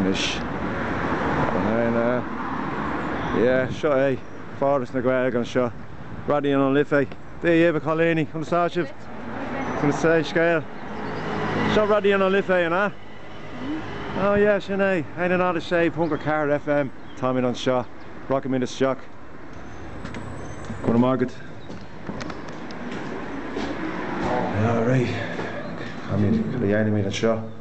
anois. Yeah, seo é Foras na Gaeilge anseo, Raidió na Life. Dia dhaoibh a Chailíní, conas atá sibh? Conas é an scéal? Seo Raidió na Life é, an ea? Oh yeah, sin é, a haon a náid a sé ponc a ceathair FM, táimid anseo, rachaimid isteach. Go raibh maith agat. All right, cad a dhéanfaimid anseo?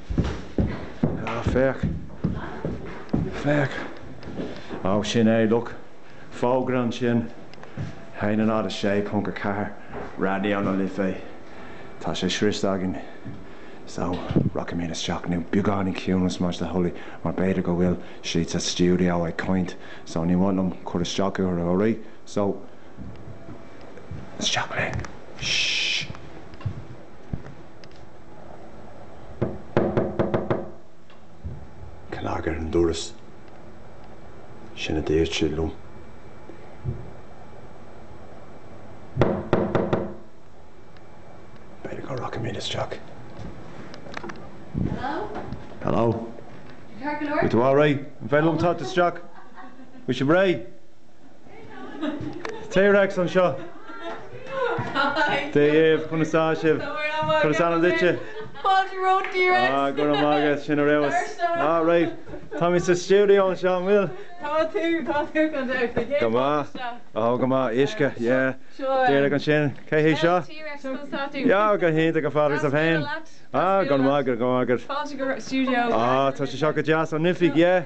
Ah, féach. Féach. Oh, sin é, look. Fógra ansin. A haon a náid a sé ponc a ceathair Raidió na Life. Tá sé sroichte againn. So, rachaimid isteach now beagáinín ciúnas más é do thoil é mar b'fhéidir go bhfuil siad sa stiúideo ag caint. So, ní mhaith liom cur isteach orthu all right. So, isteach linn. Shh. cnag ar an doras. Sin a dúirt siad liom. B'fhéidir go rachaidh mé isteach. Hello? Hello? Tá tú all right? An féidir liom teacht isteach? Bhfuil sibh réidh? T-Rex anseo Dia dhaoibh conas atá sibh. Cad is ainm duitse? Fáilte romhat T-Rex. Ah, go raibh maith agat, sin é do leas. Ah, right. Tá muid sa stiúideo anseo, an bhfuil? Tá tú, tá tú go deimhin. Cé atá Go maith. anseo? Oh, go maith. Uisce, yeah. Seo é. Derek ansin. Cé hé seo? T-Rex, conas atá tú? Yeah, go hiontach, go fada, is sibh féin. Ah, go maith, go maith. Fáilte go stiúideo. Ah, tá sé seo go deas. An oifig, yeah.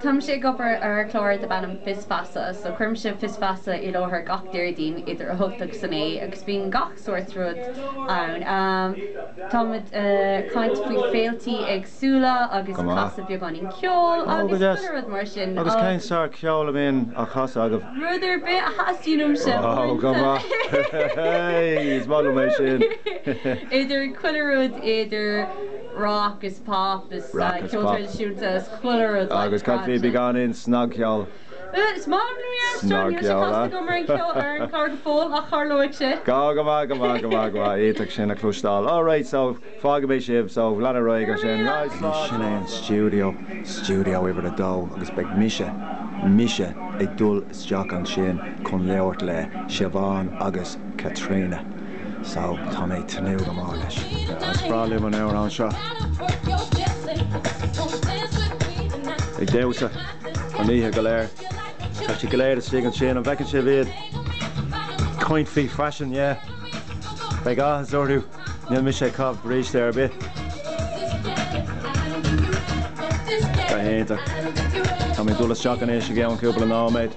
Táimse ag obair ar chlár darb ainm Fios Feasa so cuirimse Fios Feasa i láthair gach Déardaoin idir 8 agus 9 agus bíonn gach sórt rud ann. Táimid a' caint faoi féiltí éagsúla agus a' casadh beagáinín ceoil agus chuile rud mar sin. Agus cén sórt ceoil a bhíonn á chasadh agaibh? Rud ar bith a theastaíonn uaimse. Idir chuile rud, idir rac is pop is ceol traidisiúnta. agus cad faoi beagáinín snagcheol snagcheola Go, go maith, go maith, go maith, go maith, iad sin a chloisteáil All right, so fágfaidh mé sibh, so lean ar aghaidh ansin Right, slán, slán. Sin é an stiúideo, Stiúideo Uimhir a Dó agus beidh mise, mise ag dul isteach ansin chun labhairt le Siobhán agus Caitríona, Sal, tá mé ag tnúth go mór leis. Is breá liom an amhrán seo. Ag damhsa an oíche go léir. Tá siad go léir istigh ansin, an bhfeiceann sibh iad? Caint faoi faisean, yeah. Beidh áthas orthu, níl mise ag caitheamh bríste ar bith. Go hiontach. Tá mé ag dul isteach anois i gceann cúpla nóiméad.